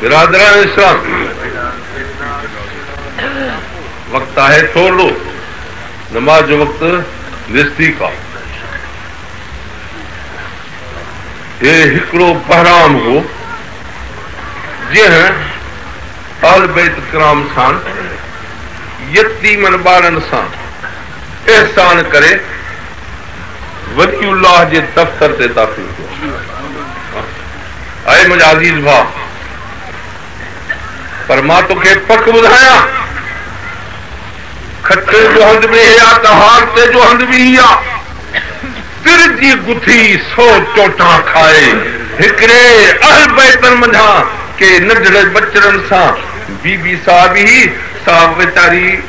برادران اسلام وقت آهي ٿورڙو نماز جو وقت نزديڪ آ هي هڪڙو بهرام هو جنهن اهل بيت ڪرام سان يتيمن ٻارن سان احسان ڪري ولي الله جي دفتر تي داخل ٿيو اي منهنجا عزيز ڀاء! پر مان توکي پڪ ٻڌايان، کٽي جو هنڌ به هي آ ته هارتي جو هنڌ به هي آ. تر جي گٿي سو چوٽان کائي، هڪڙي اهل بيتن منجهان ڪي ننڍڙي ٻچڙن سان بي بي صاحب هي، سا ويچاري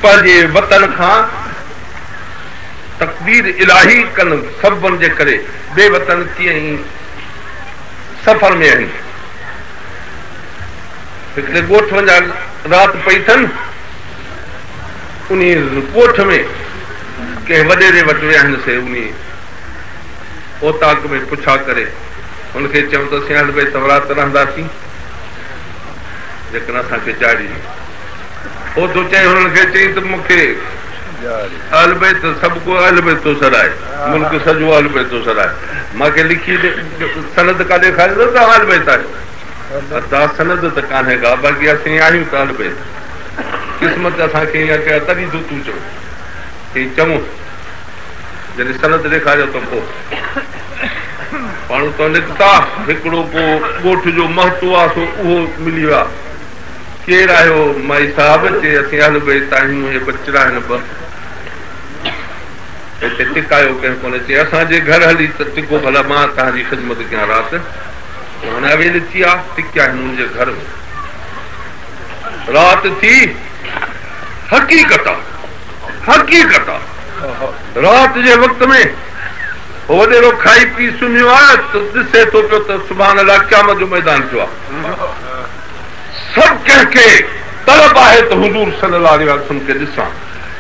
پنهنجي وطن کان. تقدير الاهي ڪن سببن جي ڪري بي وطن ڪيئن ئي سفر ۾ آهن. هڪڙي ڳوٺ وڃان رات پئي ٿن. انهي ڳوٺ ۾ ڪنهن وڏيري وٽ ويا آهن سي انهي اوطاق ۾ پڇا ڪري هن کي چيون ته اسين اهل بيت ورات رهنداسين جيڪڏهن اسان کي جاڙي اوچتو چئي هنن کي چئين ته مون کي اهل بيت سڀ ڪو اهل بيت ٿو سڏائي ملڪ سڄو اهل بيت ٿو سڏائي مان کي لکي ڏي سند ڪا ڏيکاريندو ته اهل بيت آهيو ادا سند ته ڪانهي ڪا باقي اسين آهيون ته اهل بيت قسمت اسان کي ايئن ڪيا تڏهن ٿو تون چون چئين چون جڏهن سند ڏيکاريو ته پوء ماڻهو تو نڪتا هڪڙو ڪو ڳوٺ جو مهتو آ سو اهو ملي ويا ڪير آهيو مائي صاحب چي اسين اهل بيت آهيون اهي ٻچڙا آهن ٻه هتي ٽڪايو ڪنهن ڪونهي چي اسان جي گهر هلي ته ٽڪو ڀلا مان تهان جي خدمت ڪيان رات هن اويل اچي آ ٽڪيائين هن جي گهر ۾ رات ٿي حقيقت آ حقيقت آ رات جي وقت ۾ هو وڏيرو کائي پي سمهيو آ ته ڏسي ٿو پيو ته سبحان الله قيامت جو ميدان ٿيو آ سڀ ڪنهن کي طلب آهي ته حضور صلي الله عليه واٰله وسلم کي ڏسان.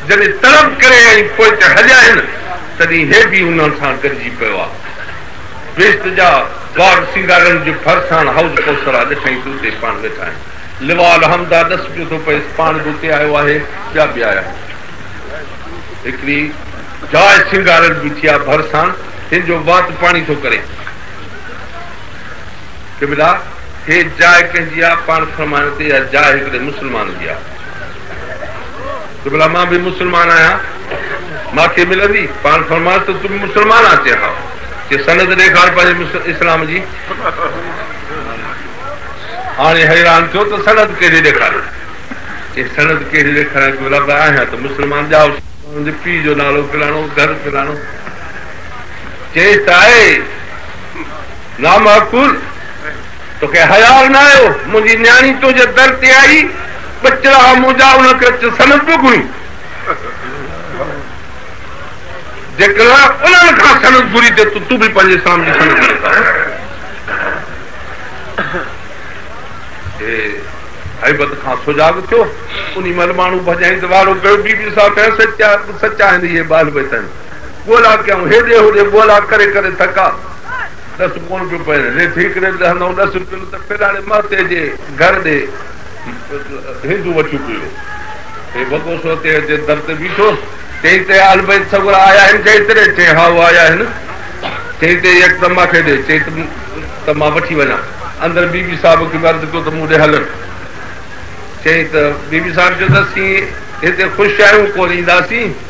جڏهن طلب ڪري ۽ پوء ته هليائين، تڏهن هي به انهن سان گڏجي پيو آ. بهشت جا باغ سينگارڻ جي ڀرسان حوض ڪوثر آ، ڏٺائين ته اتي پاڻ ويٺا آهن. لواء الحمد آ، ڏس پيو ٿو پئيس، پاڻ به اتي آيو آهي، ٻيا به آيا آهن. هڪڙي جاء سينگارڻ بيٺي آ، ڀرسان هن جو وات پاڻي ٿو ڪري. قبلا! هيء جاء ڪنهن جي آ؟ پاڻ فرمايو ته اها جاء هڪڙي مسلمان جي آ. قبلا! مان به مسلمان آهيان، مان کي ملندي؟ پاڻ فرمايو ته تون به مسلمان آ؟ چي ها. چي سند ڏيکار پنهنجي اسلام جي. هاڻي حيران ٿيو ته سند ڪهڙي ڏيکاريان؟ چي سند ڪهڙي ڏيکاريان قبلا! به آهيان ته مسلمان ڄائو سان. منهنجي پيء جو نالو فلاڻو، گهر فلاڻو. چيس ته آء. نامعقول! توکي حياء نه آيو؟ منهنجي نياڻي تنهنجي در تي آئي، ٻچڙا مون جا ان کي اچ سنت به گهري. جيڪڏهن انهن کان سنت گهري ٿي ته تون به پنهنجي اسلام جي سنت گهري ٿا. هي هيبت کان سجاڳ ٿيو. انهي مهل ماڻهو ڀڄائين ته واڙو ڪيو، بي بي صاحب ڪيائين سچ آهن اهي به اهل بيت آهن. ڳولا ڪيائون هيڏي هوڏي ڳولا ڪري ڪري ٿڪا. ڏس ڪونه پيو پئي. ريت هيڪڙي ڏهه نو ڏس روپين ته پيلاڙي مهتي جي گهر ڏي هينجون وٺيون پيو. هي وڳو سو تيهه جي در تي بيٺو. چيائين ته اهل بيت سڳورا آيا آهن ڇا هت ڏي؟ چيائين هائو آيا آهن. چيائين ته هي اک ته مان کي ڏي. چيائين ته مان وٺي وڃان. اندر بي بي صاحب کي به عرض ڪيو ته مون ڏي هلن. چيائين ته بي بي صاحب چيو ته اسين هتي خوش آهيون ڪونه اينداسين.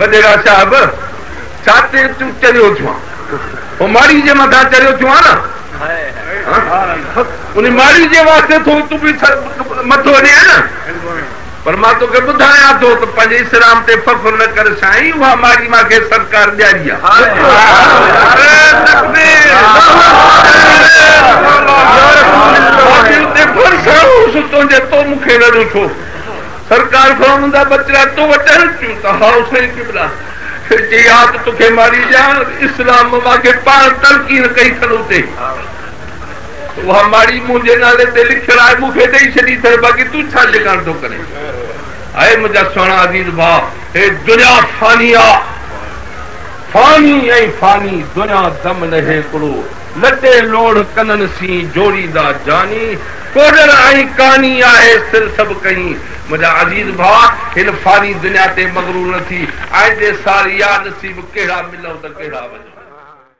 وڏيرا صاحب ڇا تي تون چريو ٿيو آن هو ماڙي جي مٿان چريو ٿيو آن ان ماڙي جي واسطي ٿو تون به مٿو ڏي آن پر مان توکي ٻڌايان ٿو ته پنهنجي اسلام تي فخر نه ڪر سائين اها ماڙي مان کي سرڪار ڏياري آهي تنهنجي تو مون کي نه ڏٺو سرڪار فرعون جا ٻچڙا تو وٽ اچن ٿيون ته هائو سائين قبلا جي ياد توکي ماري ڏيان اسلام ماکي پاڻ تلقين ڪئي ٿن اتي اها ماڙي منهنجي نالي تي لکيل آهي مون کي ڏئي ڇڏي اٿن باقي تون ڇا جڳاڻ ٿو ڪرين اي منهنجا سهڻا عزيز ڀاء هي دنيا فاني آ فاني ۽ فاني دنيا دم نه هيڪڙو لڏي لوڙهه ڪنن سين جوڙيندا جاني، ڪوڏر ۽ ڪاني آهي سر سڀ ڪهين. منهنجا عزيز ڀاء! هن فاني دنيا تي مغرور نه ٿي، آئندي سال يا نصيب ڪهڙا ملئو ته ڪهڙا وڃئو.